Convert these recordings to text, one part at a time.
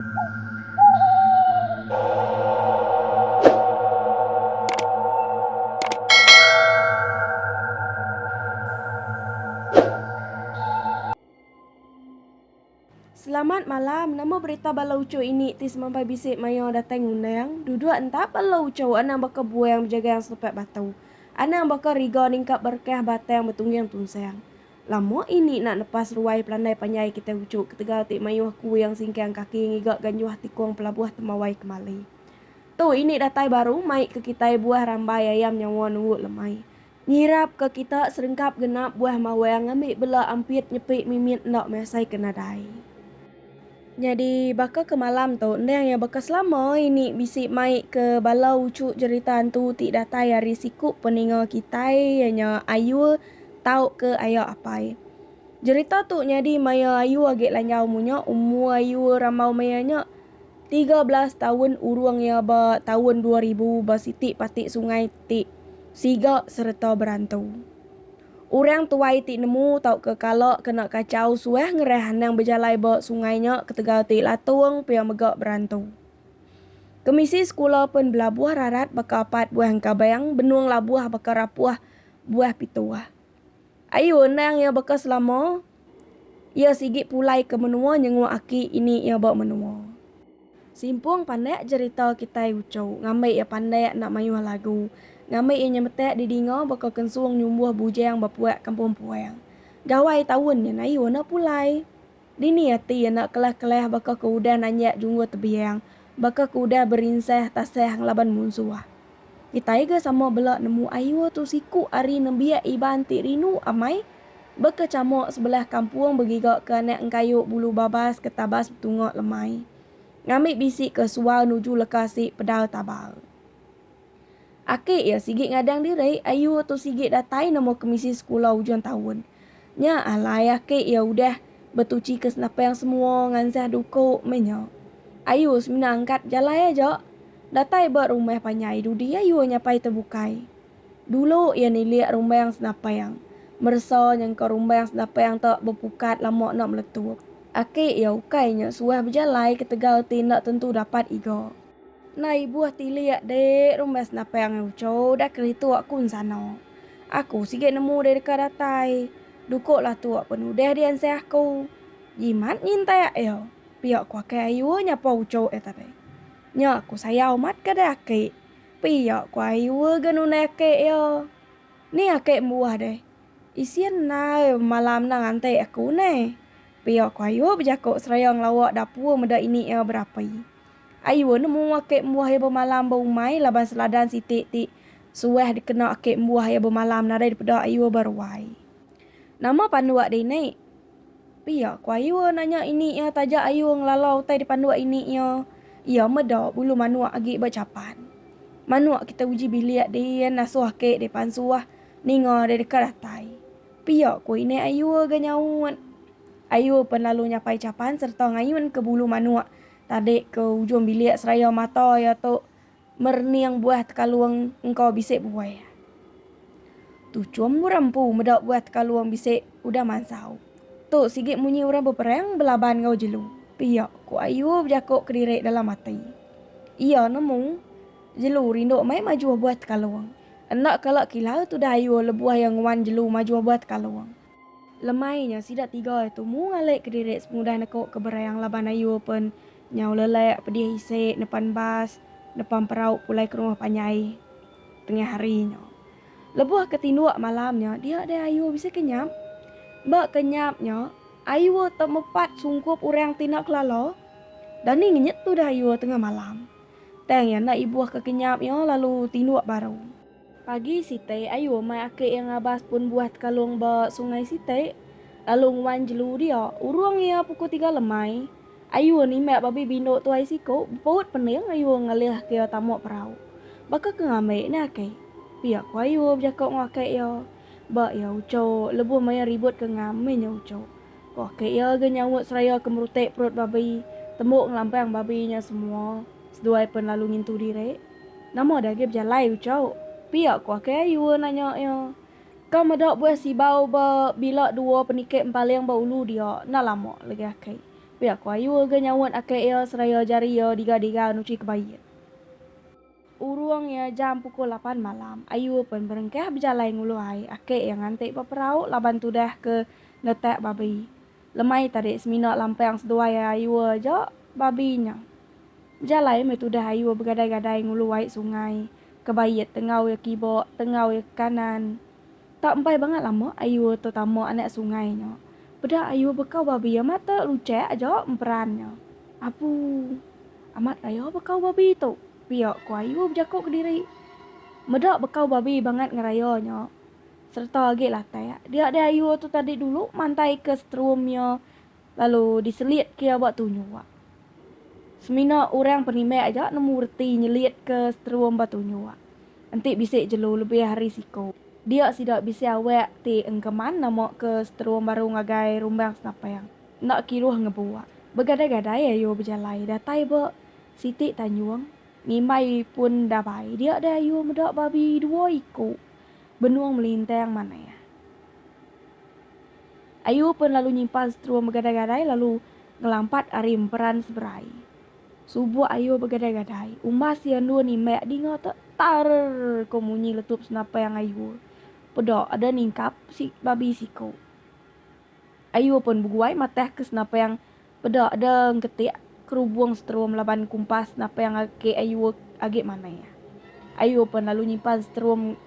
Selamat malam, nama berita bala uchu ini ti semampai bisi maioh datai ngundang, duduk entap bala uchu anang baka buang bejagang selepek batu, anang baka riga ningkap berkah batang betungging tunsang. Lama ini enda lepas ruai pelandai panjai kitai ujuk ketegal ti mayuh kuing singkang kaki ngiga ganjuh tikung pelabuh Tembawai Kemali. Tu ini datai baru mai ke kitai buah rambai ayam nyawa nunggu lemai. Nyirap ke kita serengkap genap buah mawang ambi bela ampit nyepi mimit enda measai ke nadai. Nyadi baka ke malam tu endang iya baka selama ini bisi mai ke bala uchu jerita hantu ti datai ari siku peninga kitai iya nya Ayul tau ke Aya Apai. Jerita tu nyadi maya Ayul agi lanjau munya umur Ayul rambau maya nya tiga belas taun urung iya ba taun dua ribu ba siti pati sungai ti siga sereta berantu. Orang tuai ti nemu tauka kala kena kachau suah ngerah anang bejalai ba sungai nya ketegal ti latung pia mega berantu. Kemisi sekula pen belabuh rarat baka apat buah engkabang benung labuh baka rapuh buah pituh. Ayu endang iya baka selama. Iya sigi pulai ke menua nyenguk aki ini iya ba menua. Simpung pandak jerita kitai uchu ngambi iya pandak enda mayuh lagu ngambi iya nyemetak didinga baka kensung nyumbuh bujang ba puak kampung puang. Gawai taun nya Nayu enda pulai. Dini ati iya enda kelah-kelah baka ke udah nanjak junggur tebiang Baka ke udah berinsah tasah ngelaban munsuh. Kitai ga sama bela nemu ayu tu siku ari nembiak Iban ti rindu amai baka chamuk sebelah kampung begiga ke anak engkayu bulu babas ke tabas betunga lemai ngambi bisi ke sual nuju leka si pedal tabal. Aki iya sigi ngadang diri ayu tu sigi datai nemu kemisi sekula ujung taun. Nya alai aki iya udah betuchika senapang semua ngansah duku meh nya. Ayu semina angkat jalai aja datai ba rumah panjai dudi ayu nyapai tu bukai. Dulu iya nilik rumbang senapang, meresa nyengka rumbang senapang tu bepukat lama enda meletup. Aki iya ukai nya suah bejalai ketegal ti enda tentu dapat iga. Enda ibuh tilik dik rumbas napang angai uco udah keritu aku ensano. Aku sigi nemu deh deka datai. Duko lah tu pen udah di ansai aku. Jimat nyintai ayo pio ku akai ayu nyapa uco eh tadi. Nya aku sayau mat ke deh aki. Pio ku ayu ga nundai aki iyo. Ni aki embuah deh. Isin nai malam nang antai aku neh. Pio ku ayu bejako seraya ngelawa dapur meda ini iya berapi. Ayu enda mua ake embuah iya bemalam ba umai laban seladan siti ti suah dikena ake embuah iya bemalam nadai dipeda ayu ba ruai. Nama panduk deh ini? Pia ku ayu nanya ini iya taja ayu ngelala utai di panduk ini iya. Iya meda bulu manuk agi ba chapan. Manuk kita uji bilik din nasuh ake deh pansuh ninga deh deka datai. Pia ku ini ayu ga nyaut. Ayu pen lalu nyapai chapan serta ngayun ke bulu manuk Tadi ke ujung bilik seraya mata iya tu merening buah tekalung engka bisi buai. Tuchum orang empu meda buah tekalung bisi udah mansau. Tu sigi munyi orang beperang belaban enggau jelu. Pia, ku Ayu bejako kediri dalam ati. Iya nemu, jelu rindu mai majuh buah tekalung. Enda kala kilau tudah Ayu lebuh iya nguan jelu majuh buah tekalung. Lemai nya sida tiga ai tumu ngalek kediri semudah neko ke Berayang laban ayu pen nyau lelek pedih isi nepan bas nepang perau pulai ke rumah panjai tengah hari nya. Lebuh ke tinduk malam nya dia deh ayu bisi ke nyap. Ba ke nyap nya ayu temepat sungkup orang ti enda kelala. Dani ngenyet tudah ayu tengah malam. Tang iya enda ibuh ke ke nyap iya lalu tinduk baru. Pagi sitai ayu amai aki iya ngabas pun buah tekalung ba sungai siti lalu nguan jelu dia. Urung iya puku tiga lemai, ayu nimbak babi bindu tuai siku bepaut pening ayu ngalih ke iya tamu perau. Baka ke ngambi ni aki? pia ku ayu bejaku enggau aki iya ba iya uchu lebuh maya ribut ke ngam mih nya uchu. Koh ke iya ga nyaut seraya ke merutik perut babi tembu ngelampang babi nya semua seduai pen lalu ngintu diri. Nama deh agi bejalai uchauk? Pia koh ke ayua nanya iya. Ka meda buah sibau ba bila dua penikit empaling ba ulu dia enda lama legi aki. Pia koh ayua ga nyaut aki iya seraya jari iya diga-diga nuchi kebaie. Urung iya jam pukul lapan malam, ayu pen berengkah bejalai ngulu ai ake iya nganti ba perau laban tudah ke ngetak babi. Lemai tadi semina lampang seduai ai ayu aja babi nya. Bejalai meh tudah ayu begadai-gadai ngulu ai sungai, ke bait tengau iya kiba, tengau iya ke kanan. Tak empai bangat lama Ayuh tu tama anak sungai nya. Peda Ayuh bekau babi amat te luchek aja emperan nya. Apu. Amat raya bekau babi tu pia ku Ayuh bejako kediri. Meda bekau babi bangat ngeraya nya sereta agi latak dia deh Ayuh tu tadi dulu mantaika setrum iya. Lalu diselit ke iya ba tunyu ak. Semina orang penimai aja nemu reti nyelit ke seterum ba tunyu ak. Enti bisi jelu lebih ari siku, dia sida bisi awak ti engkeman nama ke seterum baru ngagai rumbang senapang. Enda kiruh ngebu ak. Begadai-gadai ayu bejalai datai ba siti tanjung ngimbai pun dabai dia deh ayu meda babi dua iku benung melintang manah. Ayu pen lalu nyimpan strum begadai-gadai lalu ngelampat ari emperan seberai. Subuk Ayu begadai-gadai, umbas iya endur nimbek dinga te, tarrrrr ko munyi letup senapang Ayu. Peda ada ningkap si babi siko. Ayu pen beguai matahka senapang Peda da engketik kerubung seterum laban kumpas napang ngagai ayu agi manah. Ayu pen lalu nyimpan seterum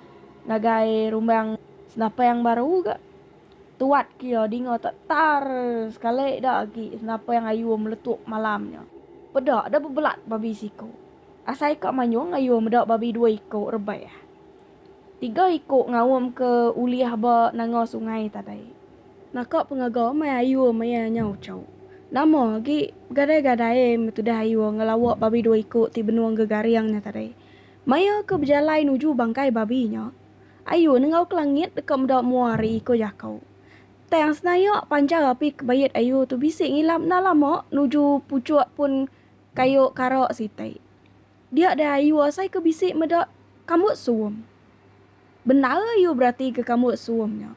ngagai rumbang senapang baru ga. Tuat ke iya dinga ta tar sekali da agi senapang ayu meletup malam nya. Peda da bebelat babi siku. Asai ka manyung ayu meda babi dua iku rebah. Tiga iku ngaum ke ulih ba nanga sungai tadai. Naka pengaga mai ayu maya nya ucau. Nama agi begadai-gadai meh tudah ayu ngelawa babi dua iku ti benung gegaring nya tadai. Maya ke bejalai nuju bangkai babi nya, ayu nengau ke langit deka meda mua ari iku jakau. Tang senayak panjau api ke bait ayu tu bisi ngilap enda lama nuju puchuk pun kayu kara sitai. Dia deh ayu asai ke bisi meda kambut suum. Bendar ayu beratika kambut suum nya.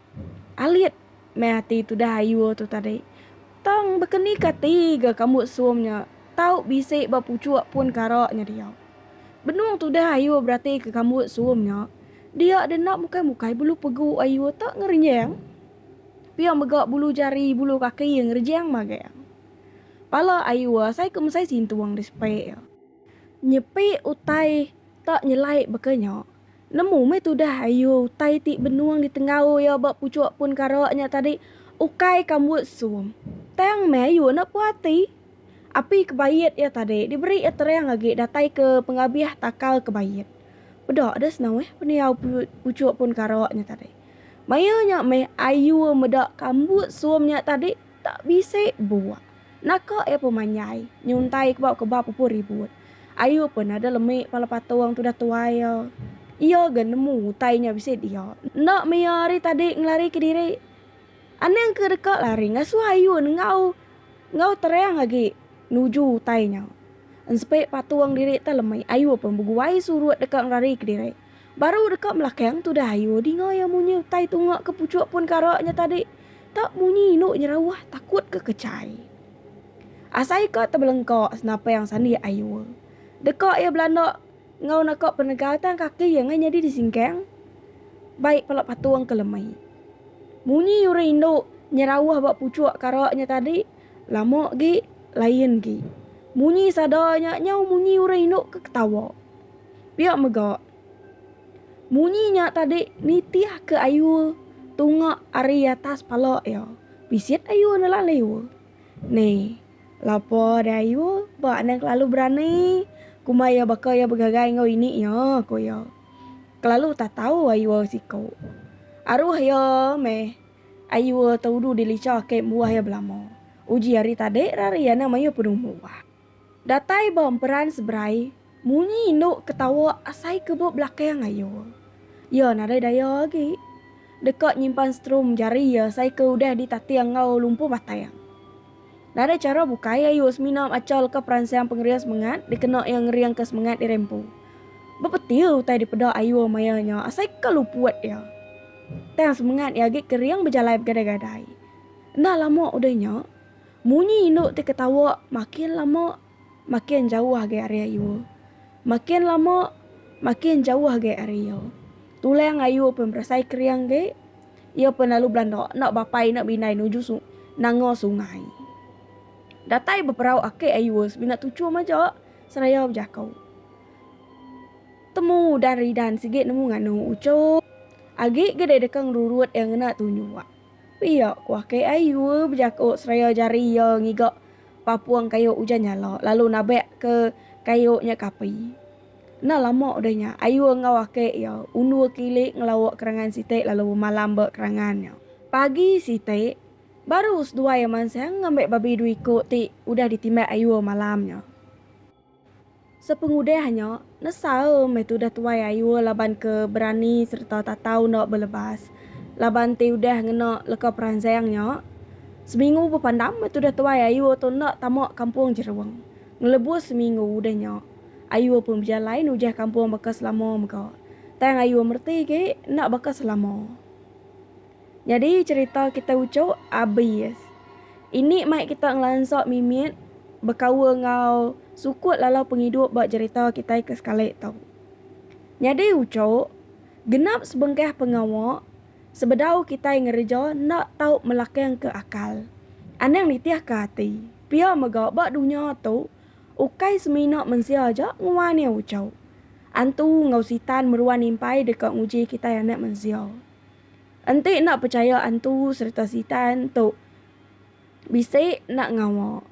Alit meh ati tudah ayu tu tadi. Tang baka ni ke ati ga kambut suum nya tau bisi ba puchuk pun kara nya dia. Benung tudah ayu beratika kambut suum nya, dia deh enda mukai-mukai bulu pegu ayu tu ngerenjang. Pia mega bulu jari, bulu kaki ngerenjang magang. Pala ayu asai ke mesai sintung disepik iya. Nyepi utai tak nyelai baka nya. Nemu meh tudah ayu utai ti benung ditenggau iya ba puchuk pun kara nya tadi ukai ka mbuh sum. Tang meh ayu enda puah ati. Api kebait iya tadi diberi iya terang agi datai ke pengabih takal kebait. Peda deh senau eh pendiau puchuk pun kara nya tadi. Maya nya meh ayu meda ka mbuh sum nya tadi. Tak bisi buah. Naka iya pemanyai. Nyuntai kebau ke ba pupu ribut. Ayu pen ada lemi pala patung tudah tuai iya. Iya ga nemu utai nya bisi dia. Enda mia ari tadi ngelari ke diri. Anang ke deka lari ngasuh ayu nengau enggau terang agi nuju utai nya. Ensepi patung diri teh lemi. Ayu pen beguai surut deka ngelari ke diri. Baru deka belakang tudah ayu dinga iya munyi utai tunga ke puchuk pun kara nya tadi. Tau munyi indu nyerauh takut ke kechai. Asai ka tebelengka senapang sandi ayu. Deka iya belanda enggau naka penegal tang kaki iya ngai nyadi disingkang bai pala patung ke lemi. Munyi urang indu nyerauh ba puchuk kara nya tadi lama agi lain agi. Munyi sada nya nyau munyi urang indu ke ketawa. Pia mega, munyi nya tadi nitihka ayu tunga ari atas pala iya. Bisit ayu nela liu. Ni, lapa deh ayu ba ne kelalu berani kumbai iya baka iya begagai enggau ini iya, ku iya. Kelalu tatau ayu siku. Aruh iya meh ayu te udu dilicha ake embuah iya belama. Uji hari tadi rak ari iya enda mayuh penumbuh. Datai ba emperan seberai, munyi indu ketawa asai ke ba belakang ayu. Iya nadai daya agi. Deka nyimpan strum jari iya asai ke udah ditating enggau lumpu batang. Nadai chara bukai ayu semina macha leka peransang pengering semengat dikena iya ngeringka semengat diri empu. Bepeti utai dipeda ayu maya nya asai ke luput iya. Tang semengat iya agi kering bejalai begadai-gadai. Enda lama udah nya, Munyi indu ti ketawa makin lama makin jauh agi ari ayu. Makin lama makin jauh agi ari iya. Tulang ayu pun berasai kering agi. Iya pun lalu belanda enda bapai enda bindai nuju su nanga sungai. Datai beperau aki ayu semina tuchum aja seraya bejako. Temu udan ridan sigi nemu nganu uchu. Agi ge dei deka ngerurut iya ngena tunjua. Pia ku aki ai Yue bejaku seraya jari iya ngiga papung kayu ujan nyala lalu nabek ke kayu nya ke api. Enda lama udah nya, ai Yue enggau aki iya undur kili ngelauk kerangan siti lalu bemalam ba kerangan nya. Pagi siti, baru seduai iya mansang ngambi babi dua iku ti udah ditimbak ai Yue malam nya. Sepengudah nya, nesal meh tudah tuai Ayul laban ke berani sereta tatau enda belebas. Laban ti udah ngena leka peransang nya, seminggu bepandam meh tudah tuai Ayul tu enda tama kampung Jerung. Ngelebus seminggu udah nya, Ayul pun bejalai nujah kampung baka selama mega. Tang Ayul mereti agi enda baka selama. Nyadi cherita kitai uchok abis. Ini mai kita ngelansa mimit bekaul enggau sukut lalau pengidup ba jerita kitai ke sekali tu. Nyadi uchok, genap sebengkah pengawa sebedau kitai ngereja enda tau melakangka akal, anang nitihka ati. Pia mega ba dunya tu, ukai semina mensia aja nguan iya uchok. Antu enggau sitan meruan impai deka nguji kitai anak mensia. Enti enda pechaya antu sereta sitan tu bisi enda ngawa.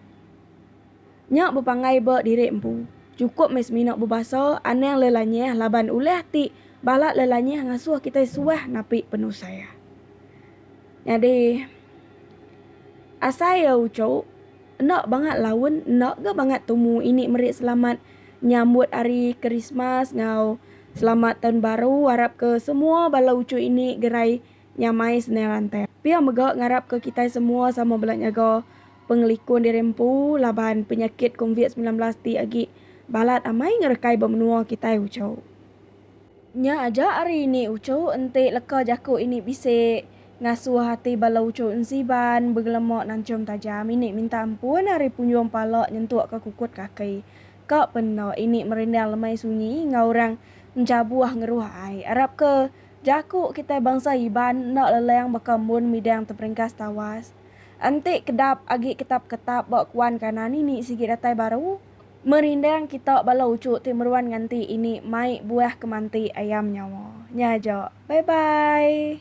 Nya bepanggai ba diri empu. Chukup meh semina bebasa anang lelanyah laban ulah ti bala lelanyah ngasuh kitai suah napi penusah. Nyadi asai iya uchu enda bangat laun enda ga bangat tumu ini meri selamat nyambut hari Krismas enggau. Selamat taun baru arap ke semua bala uchu ini gerai nyamai sendai rantai. Pia mega ngarap ke kitai semua sama bela nyaga pengelikun diri empu laban penyakit konvit semilan belas ti agi balat amai ngerekai ba menua kitai uchu. Nya aja ari ini uchu enti leka jaku ini bisi ngasuh ati bala uchu ensiban begelema nanchum tajam ini minta ampun ari punjung pala nyentuk ke kukut kaki. Ka penda ini merindang lemai sunyi enggau orang enjabuh ngeruh ai. Arap ke jaku kitai bangsa Iban enda leleng baka mun midang teperingkas tawas. Enti kedap agi ketap-ketap ba kuan kanan ini sigi datai baru. Merindang kita bala uchu ti meruan nganti ini mai buah kemanti ayam nyawa. Nya aja. Bye bye.